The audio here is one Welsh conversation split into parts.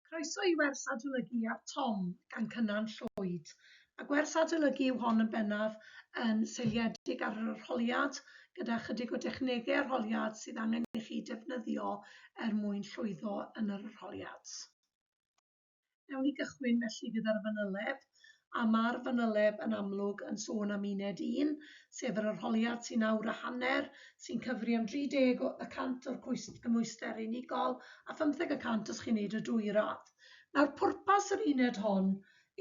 Croeso i wers adolygu ar Tom gan Cynan Llwyd. Mae gwers adolygu yw hon yn bennaf yn seiliedig ar yr arholiad gyda chydig o dechnegau arholiad sydd angen i chi defnyddio er mwyn llwyddo yn yr arholiad. Newn ni gychwyn felly gyda'r fanyleb. a ma'r fanyleb yn amlwg yn sôn am uned un, sef yr arholiad sy'n awr a hanner, sy'n cyfri am 30 y cant o'r cymhwyster unigol a phymtheg y cant os chi'n neud y dwy radd. Nawr, pwrpas yr uned hon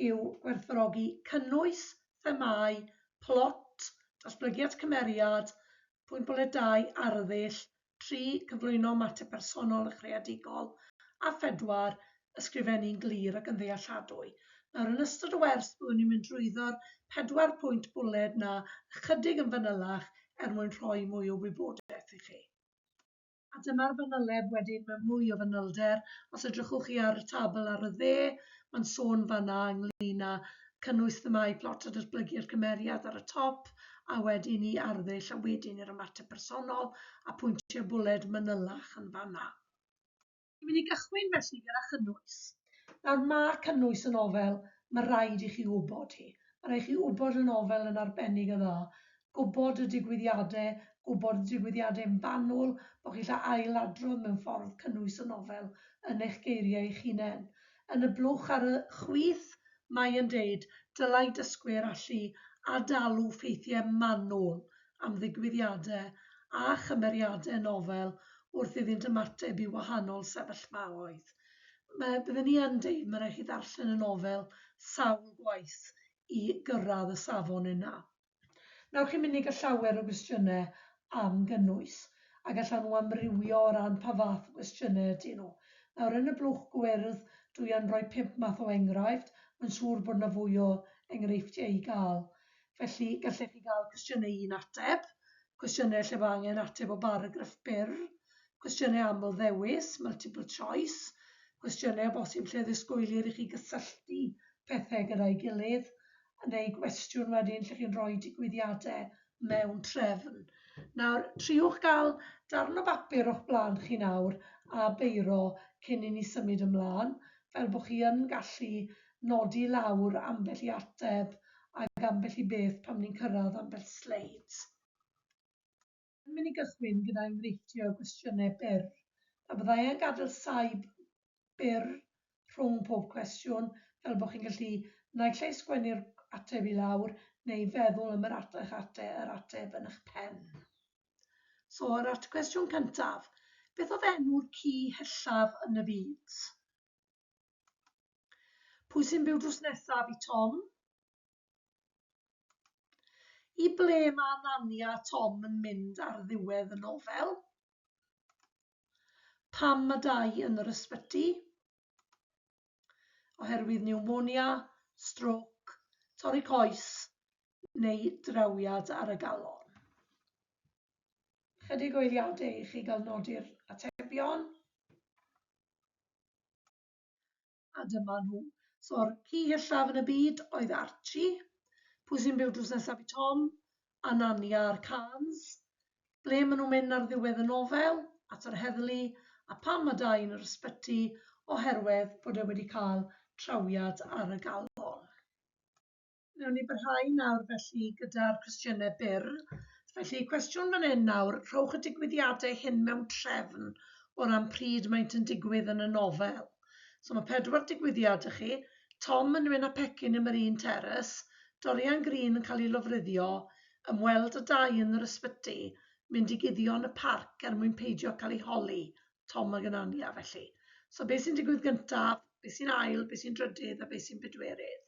yw gwerthfawrogi cynnwys, themâu, plot, datblygiad cymeriad, pwynt bwled dau, arddull, tri, cyflwyno mater personol a chreadigol, a phedwar, ysgrifennu'n glir ac yn ddealladwy. Nawr, yn ystod y wers, byddwn ni'n mynd drwyddo'r pedwar pwynt bwled 'na ychydig yn fanylach er mwyn rhoi mwy o wybodaeth i chi. A dyma'r fanyleb wedyn mewn mwy o fanylder. Os edrychwch chi ar y tabl ar y dde, mae'n sôn fan'na ynglŷn â cynnwys themâu plot a datblygu'r cymeriad ar y top, a wedyn i arddull a wedyn i'r ymateb personol, a pwyntiau bwled manylach yn fan'na. Dwi'n mynd i gychwyn felly gyda chynnwys. Nawr, mae cynnwys y nofel, mae rhaid i chi wybod hi. Mae rhaid i chi wybod y nofel yn arbennig o dda, gwybod y digwyddiadau, gwybod y digwyddiadau'n fanwl, bod chi'n gallu ail-adrodd mewn ffordd cynnwys y nofel yn eich geiriau eich hunain. yn y blwch ar y chwith, mae yn deud, dylai dysgwyr allu ad-dalu ffeithiau manwl am ddigwyddiadau a chymeriadau nofel wrth iddynt ymateb i wahanol sefyllfaoedd. Mae, bydden ni yn deud, mae'n rhaid i chi ddarllen y nofel sawl gwaith i gyrraedd y safon yna. Wnewch chi mynd i gael llawer o gwestiynau am gynnwys, a gallan nhw amrywio o ran pa fath o gwestiynau ydyn nhw. Nawr, yn y blwch gwyrdd, dw i yn rhoi pump math o enghraifft, mae'n siŵr bod yna fwy o enghreifftiau i gael. Felly, gallech chi gael cwestiynau un ateb, cwestiynau lle mae angen ateb o baragraff byr, cwestiynau aml-ddewis, multiple choice, cwestiynau o bosib lle ddisgwylir i chi gysylltu pethau gyda'i gilydd, neu gwestiwn wedyn lle chi'n rhoi digwyddiadau mewn trefn. Nawr, triwch gael darn o bapur o'ch blaen chi nawr a beiro cyn i ni symud ymlaen, fel bod chi yn gallu nodi lawr ambell i ateb ac ambell i beth pan ni'n cyrraedd ambell sleid. Yn mynd i gychwyn gyda enghreifftiau o gwestiynau byr. Pe byddai e'n gadael saib byr rhwng pob cwestiwn, fel bod chi'n gallu naill ai sgwennu'r ateb i lawr neu feddwl am yr at- eich ate- yr ateb yn eich pen. So, yr at- cwestiwn cyntaf, beth oedd enw'r ci hellaf yn y byd? Pwy sy'n byw drws nesaf i Tom? I ble mae Nani a Tom yn mynd ar ddiwedd y nofel? Pam mae Dai yn yr ysbyty? Oherwydd niwmonia, strôc, torri coes neu drawiad ar y galon. Chydig o eiliadau i chi gael nodi'r atebion. a dyma nhw. So'r ci hithaf yn y byd oedd Archie. Pwy sy'n byw drws nesaf i Tom? A Nani a'r Cans. Ble maen nhw'n mynd ar ddiwedd y nofel? At yr heddlu. A pam mae Dai yn yr ysbyty? Oherwydd bod e wedi cael trawiad ar y galon. Wnawn ni barhau nawr felly gyda'r cwestiynau byr. Felly, cwestiwn fan hyn nawr, rhowch y digwyddiadau hyn mewn trefn o ran pryd maent yn digwydd yn y nofel. So mae pedwar digwyddiad y chi, Tom yn mynd â pecyn ym yr un teres, Dorian Green yn cael ei lofruddio, ymweld â dau yn yr ysbyty, mynd i guddio yn y parc er mwyn peidio cael ei holi, Tom ag Anania felly. So beth sy'n digwydd gyntaf, beth sy'n ail, beth sy'n drydydd a beth sy'n bedwerydd?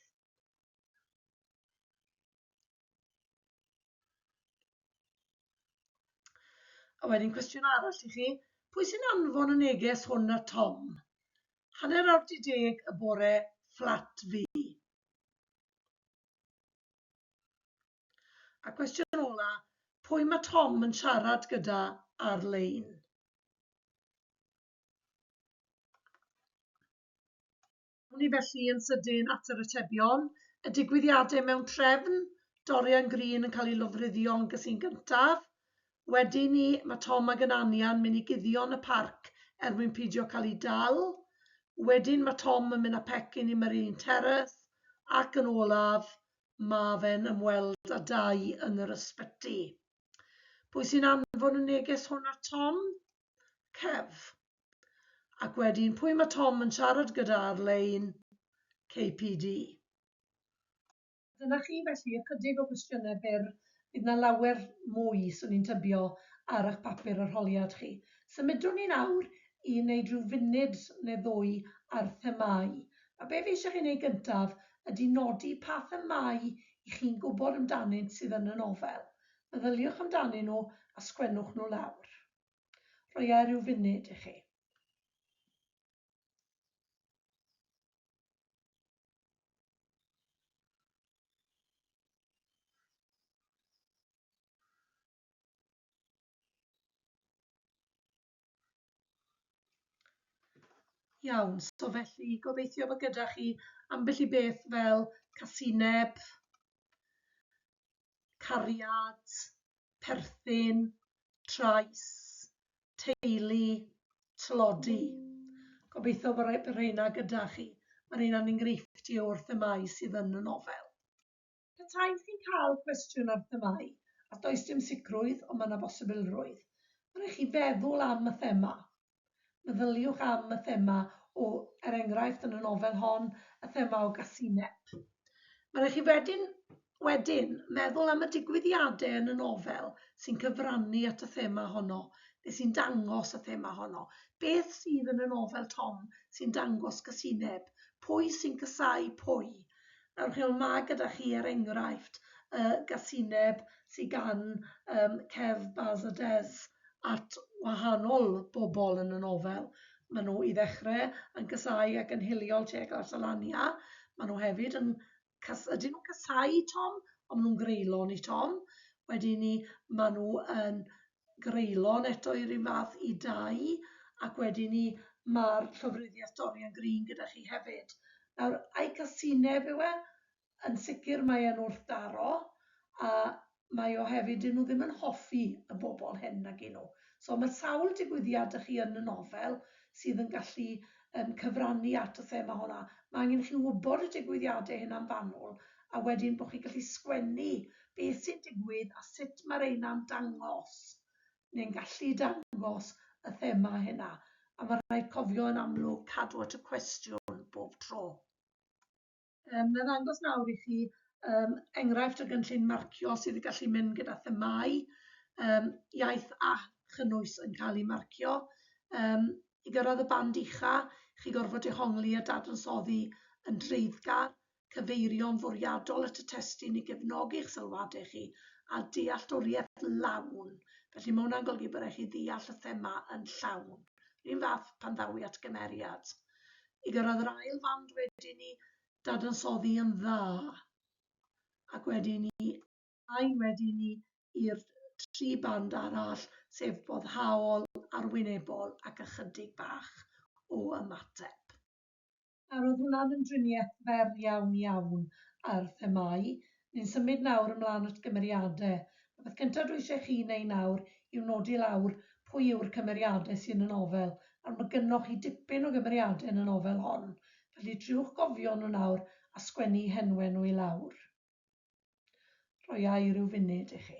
A wedyn cwestiwn arall i chi, pwy sy'n anfon y neges hwn at Tom? Hanner awr di deg y bore fflat fi. A cwestiwn ola, pwy mae Tom yn siarad gyda ar-lein? Awn ni felly yn sydyn at yr atebion. Y digwyddiadau mewn trefn, Dorian Green yn cael ei lofruddio yn gysin gyntaf. Wedyn ni, mae Tom ag Anania'n mynd i guddio yn y parc er mwyn pidio cael ei dal. Wedyn mae Tom yn mynd â pecyn i Marine Terrace ac yn olaf, mae fe'n ymweld â Dai yn yr ysbyty. Pwy sy'n anfon y neges hwn at Tom? Kev. Ac wedyn, pwy mae Tom yn siarad gyda ar lein? KPD. Dyna chi felly, ychydig o gwestiynau byr, bydd 'na lawer mwy, 'swn i'n tybio, ar eich papur arholiad chi. Symudwn ni nawr i wneud rhyw funud neu ddwy ar themâu. A be fi eisiau chi wneud gyntaf ydy nodi pa themâu 'y chi'n gwybod amdanynt sydd yn y nofel. Meddyliwch amdanyn nhw a sgwennwch nhw lawr. Rhoia rhyw funud i chi. Iawn, so felly gobeithio bod gyda chi ambell i beth fel casineb, cariad, perthyn, trais, teulu, tlodi. Gobeithio bod y rheina gyda chi. Mae rheina'n enghreifftiau o'r themâu sydd yn y nofel. Petai chi'n cael cwestiwn ar themâu, a does dim sicrwydd ond mae yna bosibilrwydd, mae'n rhaid chi feddwl am y thema. Meddyliwch am y thema o, er enghraifft, yn y nofel hon, y thema o gasineb. Mae'n rhaid i chi wedyn wedyn meddwl am y digwyddiadau yn y nofel sy'n cyfrannu at y thema honno, neu sy'n dangos y thema honno. Beth sydd yn y nofel Tom sy'n dangos casineb? Pwy sy'n casáu pwy? Nawr chi weld ma' gyda chi er enghraifft y gasineb sy gan um, Kev, Baz a Des at wahanol bobl yn y nofel. Maen nhw i ddechrau yn casau ac yn hiliol Che Glarsalania. Maen nhw hefyd yn... Cas, ydyn nhw'n casau Tom? Ond maen nhw'n greulon i Tom. Wedyn ni, maen nhw yn greulon eto i'r un fath i dai, ac wedyn 'ny ma'r llofruddiaeth Dorian Green gyda chi hefyd. Nawr, ai casineb yw e? Yn sicr mae e'n wrthdaro, a mae o hefyd, 'dyn nhw ddim yn hoffi y bobl hŷn nag 'yn nhw. So ma' sawl digwyddiad 'da chi yn y nofel sydd yn gallu yn cyfrannu at y thema honna, mae angen i chi wybod y digwyddiadau hyn am fanwl, a wedyn bod chi'n gallu sgwennu beth sy'n digwydd a sut mae'r rheina'n dangos, neu'n gallu dangos, y thema hynna. A mae'n rhaid cofio yn amlwg cadw at y cwestiwn bob tro. Um, na ddangos nawr i chi um, enghraifft o gynllun marcio sydd yn gallu mynd gyda themau, um, iaith a chynnwys yn cael ei marcio. Um, I gyrraedd y band ucha, chi gorfod dehongli a dadansoddi yn dreiddgar, cyfeirio'n fwriadol at y testun i gefnogi eich sylwadau chi, a dealltwriaeth lawn. Felly mae hwnna'n golygu bod eich i ddeall y thema yn llawn. Rwy'n fath pan ddawi at gymeriad. i gyrraedd yr ail fand wedi ni dadansoddi yn dda ac wedi ni ymlaen wedi ni i'r tri band arall sef boddhaol, arwynebol ac ychydig bach o ymateb. Nawr oedd hwnna'n ymdriniaeth fer iawn iawn ar themâu Ni'n symud nawr ymlaen at gymeriade. Y peth cynta dwi eisiau chi neu nawr yw nodi lawr pwy yw'r cymeriade sy yn y nofel, nawr ma gynnoch chi dipyn o gymeriade yn y nofel hon, felly triwch gofio nhw nawr a sgwennu i henwe nhw i lawr. Rhoiai ryw funud i chi.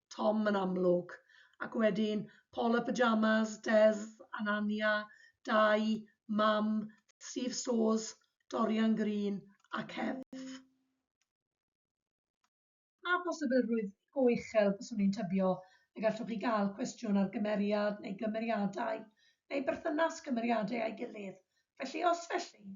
Tom yn amlwg, ac wedyn Paul y Pyjamas, Des, Anania, Dai, Mam, Steve Stores, Dorian Green a Kev. Pa bosibilrwydd go uchel byswn i'n tybio y gallwch chi gael cwestiwn ar gymeriad neu gymeriadau neu berthynas cymeriadau â'i gilydd, felly os felly,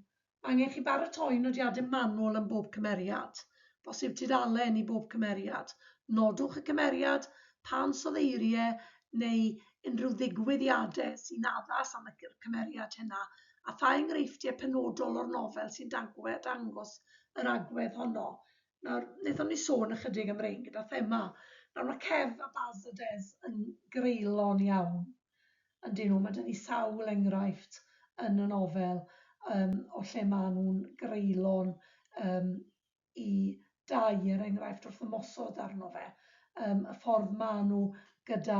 Angen chi baratoi nodiadau manwl am bob cymeriad, bosib tudalen i bob cymeriad. Nodwch y cymeriad, pa ansoddeiriau neu unrhyw ddigwyddiadau sy'n addas am y cymeriad hynna, a pha enghreifftiau penodol o'r nofel sy'n dangos yr agwedd honno. Nawr, wnaethon ni sôn ychydig am rein gyda thema. Nawr, mae Kev a Baz a Des yn greulon iawn. Ydyn nhw. Mae 'da ni sawl enghraifft yn y nofel um, o lle maen nhw'n greulon um, i dau, er enghraifft, wrth ymosod arno fe. Um, y ffordd maen nhw gyda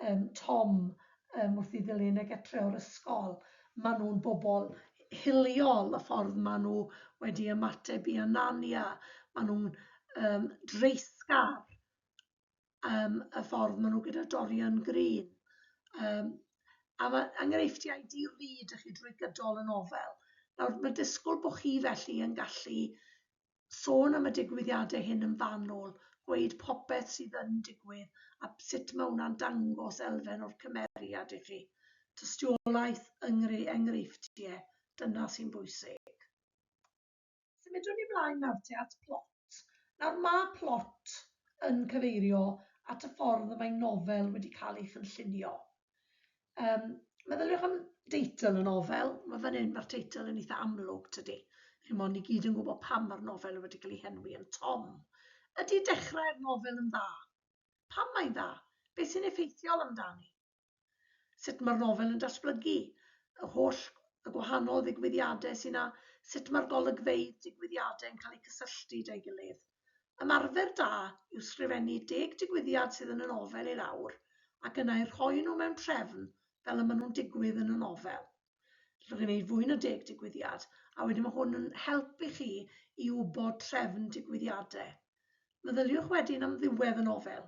um, Tom um, wrth i ddilyn ag etre o'r ysgol. Maen nhw'n bobl hiliol y ffordd maen nhw wedi ymateb i Anania. Maen nhw'n um, dreisgar um, y ffordd maen nhw gyda Dorian Green. Um, a mae enghreifftiau di-lid chi drwy gydol y nofel. Nawr, mae disgwyl bod chi felly yn gallu sôn am y digwyddiadau hyn yn fanwl, gweud popeth sydd yn digwydd a sut mae hwnna'n dangos elfen o'r cymeriad i chi. Tystiolaeth, enghreifftiau, dyna sy'n bwysig. Symudwn ni mlaen nawr te at plot. Nawr ma' plot yn cyfeirio at y ffordd y mae nofel wedi cael ei chynllunio. Um, meddyliwch am deitl y nofel, mae fan hyn mae'r teitl yn eitha amlwg tydi. Chi'n mwyn ni gyd yn gwybod pam mae'r nofel wedi cael ei henwi yn Tom. Ydy dechrau'r nofel yn dda? Pam mae'n dda? Beth sy'n effeithiol amdani? sut mae'r nofel yn datblygu, yr holl y gwahanol ddigwyddiadau sy'n a sut mae'r golygfeydd digwyddiadau yn cael eu cysylltu 'da'i gilydd. Ymarfer da yw sgrifennu deg digwyddiad sydd yn y nofel i lawr ac yna eu rhoi nhw mewn trefn fel y maen nhw'n digwydd yn y nofel. Allwch chi wneud fwy na deg digwyddiad a wedyn mae hwn yn helpu chi i wybod trefn digwyddiadau. Meddyliwch wedyn am ddiwedd y nofel.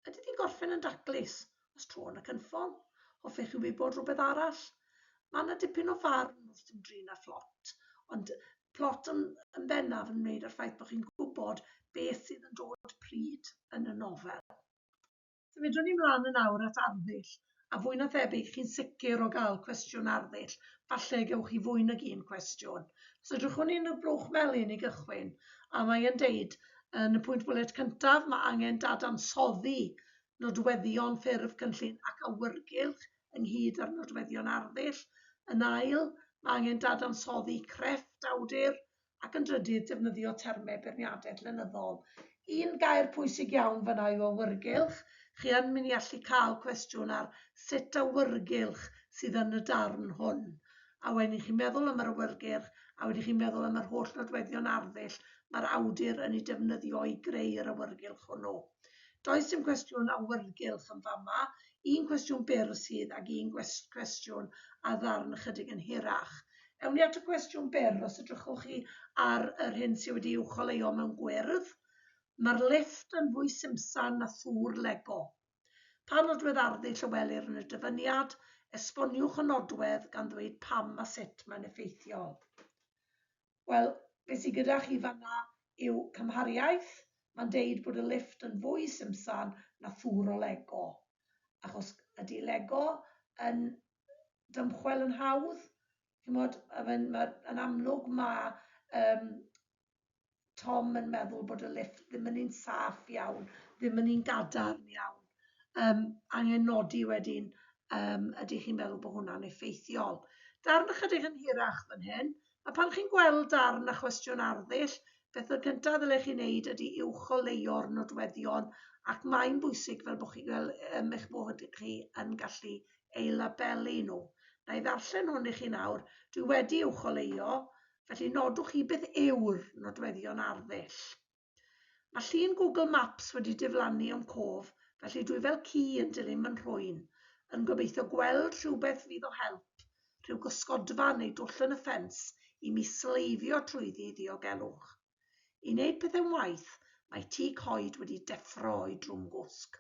Ydy di'n gorffen yn daclus? Os tro yn y cynffon? Hoffech chi wybod rhywbeth arall? Mae yna dipyn o farn wrth ymdrin â'r plot, ond plot yn, yn bennaf yn wneud â'r ffaith bod chi'n gwybod beth sydd yn dod pryd yn y nofel. Symudwn ni mlaen yn awr at arddull, a fwy na thebyg chi'n sicr o gael cwestiwn arddull, falle y gewch chi fwy nag un cwestiwn. Os edrychwn ni'n y blwch melyn i gychwyn, a mae e'n deud yn y pwynt bwlet cyntaf, mae angen dadansoddi nodweddion ffurf cynllun ac awyrgylch ynghyd â'r nodweddion arddull. Yn ail, mae angen dadansoddi crefft awdur ac yn drydydd, defnyddio termau beirniadaeth lenyddol. Un gair pwysig iawn fanna yw awyrgylch. Chi yn mynd i allu cael cwestiwn ar sut awyrgylch sydd yn y darn hwn. A wedyn i chi meddwl am yr awyrgylch, a wedyn i chi meddwl am yr holl nodweddion arddull mae'r awdur yn ei defnyddio i greu yr awyrgylch hwnnw. Does dim cwestiwn awyrgylch yn fama, un cwestiwn byr sydd ag un gwest- cwestiwn a ddarn ychydig yn hirach. Ewn ni at y cwestiwn byr, os edrychwch chi ar yr hyn sydd wedi i'w choleuo mewn gwyrdd, mae'r lifft yn fwy simsan na thŵr Lego. Pa nodwedd arddu Llywelir yn y dyfyniad? Esboniwch y nodwedd gan ddweud pam a sut mae'n effeithiol. Wel, be sy gyda chi fanna yw cymhariaeth, mae'n deud bod y lifft yn fwy simsan na thŵr o Lego. Achos ydy Lego yn dymchwel yn hawdd? Chimod, yn amlwg mae yym Tom yn meddwl bod y lifft ddim yn un saff iawn, ddim yn un gadarn iawn. Yym, angen nodi wedyn, yym, ydych chi'n meddwl bod hwnna'n effeithiol? Darn ychydig yn hirach fan hyn, A pan chi'n gweld darn a chwestiwn arddull, beth y cyntaf ddylech chi wneud ydy uwcholeuo'r nodweddion ac mae'n bwysig fel bod chi fel um, eich bod chi yn gallu ei labelu nhw. Na i ddarllen hwn i chi nawr. Dwi wedi uwcholeio, felly nodwch chi beth yw'r nodweddion arddull. Mae llun Google Maps wedi diflannu o'm cof, felly dwi fel ci yn dilyn fy nhrwyn, yn gobeithio gweld rhywbeth fydd o help, rhyw gysgodfa neu dwll yn y ffens i mi sleifio trwyddi i ddiogelwch. I wneud pethau'n waeth, mae tŷ coed wedi deffro o'i drwm gwsg.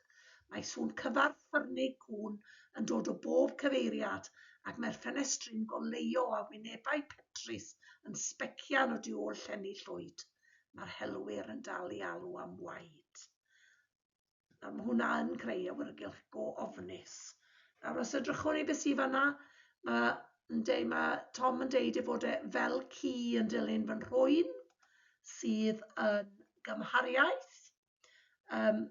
Mae sŵn cyfarth ffyrnig cŵn yn dod o bob cyfeiriad, ac mae'r ffenestri'n goleuo â wynebau petrus yn sbecian o du ôl llenni llwyd. Mae'r helwyr yn dal i alw am waed. A mae hwnna yn creu awyrgylch go ofnus. Nawr, os ydrychwn ni beth sydd fanna, mae, deud, mae Tom yn deud ei fod e fel ci yn dilyn fy nhrwyn sydd yn gymhariaeth. Um,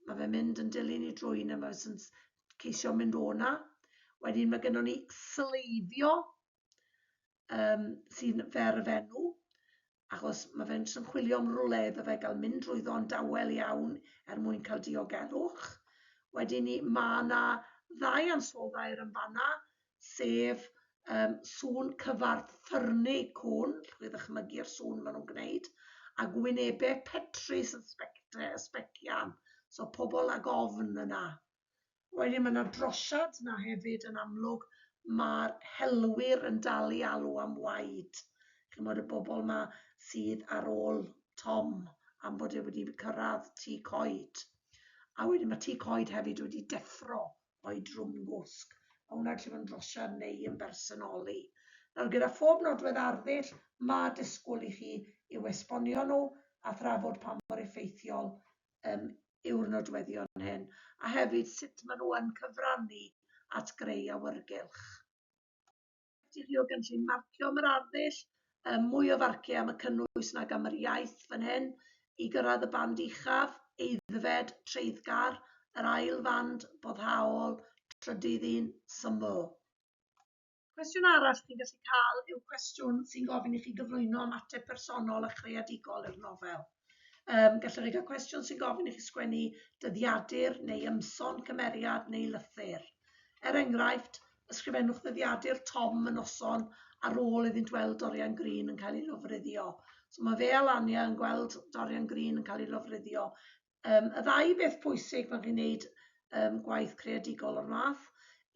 mae fe'n mynd yn dilyn i drwyn a mae fe'n ceisio mynd o'na. Wedyn mae gennym ni sleifio. um, sy'n fer y fenw, achos mae fe'n trymchwilio am rwle iddo fe gael mynd drwyddo'n dawel iawn er mwyn cael diogelwch. Wedyn ni, mae yna ddau ansoddau yn fanna, sef um, sŵn cyfarth ffyrnu cwn, llwch chi ddychmygu'r sŵn maen nhw'n gwneud, a gwynebau petrus yn sbectau, y sbecian. So pobl ag ofn yna. Wedyn ma' 'na drosiad 'na hefyd yn amlwg, ma'r helwyr yn dal i alw am waed, ch'mod y bobol 'ma sydd ar ôl Tom am bod e wedi cyrradd Tŷ Coed. A wedyn ma' Tŷ Coed hefyd wedi deffro o'i drwm gwsg. Ma' hwnna gallu bod yn drosiad neu yn bersonoli. Nawr gyda phob nodwedd arddull ma' disgwl i chi i'w esbonio nhw a thrafod pa mor effeithiol um, yw'r nodweddion hyn, a hefyd sut maen nhw yn cyfrannu at greu awyrgylch. Ydych chi o gynllun marcio am yr arddull, um, mwy o farciau am y cynnwys nag am yr iaith fan hyn, i gyrraedd y band uchaf, eiddfed, treiddgar, yr ail fand, boddhaol, trydydd un, syml. Cwestiwn arall chi'n gallu cael yw cwestiwn sy'n gofyn i chi gyflwyno ymateb personol a chreadigol i'r nofel. Um, gallwch chi gael cwestiwn sy'n gofyn i chi sgwennu dyddiadur neu ymson cymeriad neu lythyr. Er enghraifft, ysgrifennwch ddyddiadur Tom yn noson ar ôl iddynt weld Dorian Green yn cael ei lofruddio. So mae fe a Lania yn gweld Dorian Green yn cael ei lofruddio Um, y ddau beth pwysig pan chi'n gwneud um, gwaith creadigol o'r math,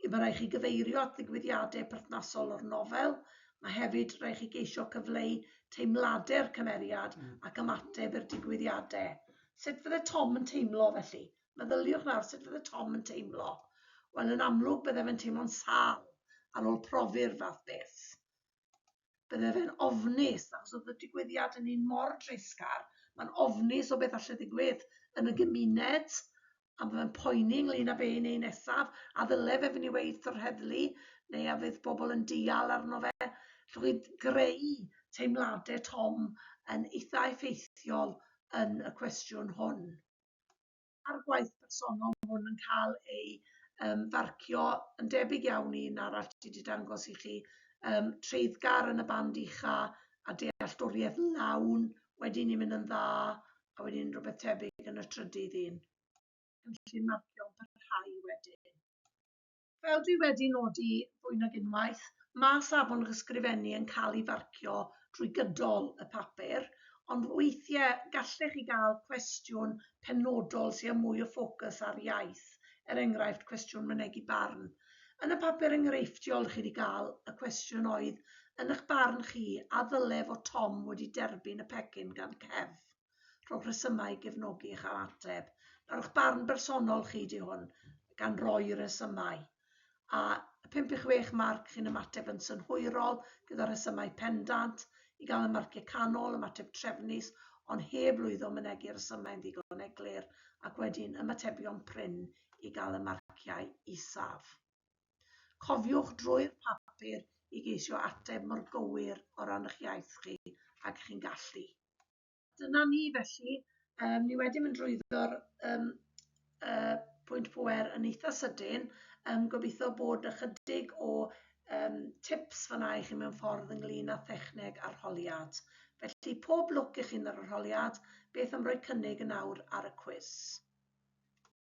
yw mae rhaid chi gyfeirio at ddigwyddiadau perthnasol o'r nofel, mae hefyd rhaid chi geisio cyfleu teimladau'r cymeriad mm. ac ymateb i'r digwyddiadau. Sut fydde Tom yn teimlo felly? Meddyliwch nawr sut fydde Tom yn teimlo. Wel, yn amlwg bydde fe'n teimlo'n sal ar ôl profi'r fath beth. bydde fe'n ofnus, achos oedd y digwyddiad yn un mor dreisgar, mae'n ofnus o beth allai ddigwydd yn y gymuned, a mae'n poeni ynglyn â be'n ei nesaf, a ddyle fe fynd i weith o'r heddlu, neu a fydd pobl yn deall arno fe. Llwch i greu teimladau Tom yn eitha effeithiol yn y cwestiwn hwn. a'r gwaith personol ma' hwn yn cael ei yym farcio yn debyg iawn i un arall ti 'di dangos i chi yym treiddgar yn y band ucha a dealltwriaeth lawn wedyn ni'n mynd yn dda a wedyn rhywbeth tebyg yn y trydydd un. Cynllun marcio yn parhau wedyn. Fel dwi wedi nodi fwy nag unwaith, mae safon yr ysgrifennu yn cael ei farcio drwy gydol y papur, ond weithiau gallech chi gael cwestiwn penodol sydd â mwy o ffocws ar iaith, er enghraifft cwestiwn mynegi barn. Yn y papur enghreifftiol chi wedi cael, y cwestiwn oedd, yn eich barn chi, a ddylai fod Tom wedi derbyn y pecyn gan Kev? rhowch resymau i gefnogi eich ateb. Rhowch barn bersonol chi di hwn gan roi resymau. A 5 i 6 marc chi'n ymateb yn synhwyrol gyda rhesymau pendant i gael y marciau canol, ymateb trefnus ond heb lwyddo mynegi resymau'n ddigon eglur ac wedyn ymatebion prin i gael y marciau isaf. Cofiwch drwy'r papur i geisio ateb mor gywir o ran eich iaith chi ag chi'n gallu. Dyna ni felly, um, ni wedi mynd drwyddo'r um, uh, pwynt pwer yn eitha sydyn. Um, gobeithio bod ychydig o um, tips fanna i chi mewn ffordd ynglyn â thechneg arholiad. Felly pob lwc i chi'n yr arholiad, beth am roi cynnig yn awr ar y cwys?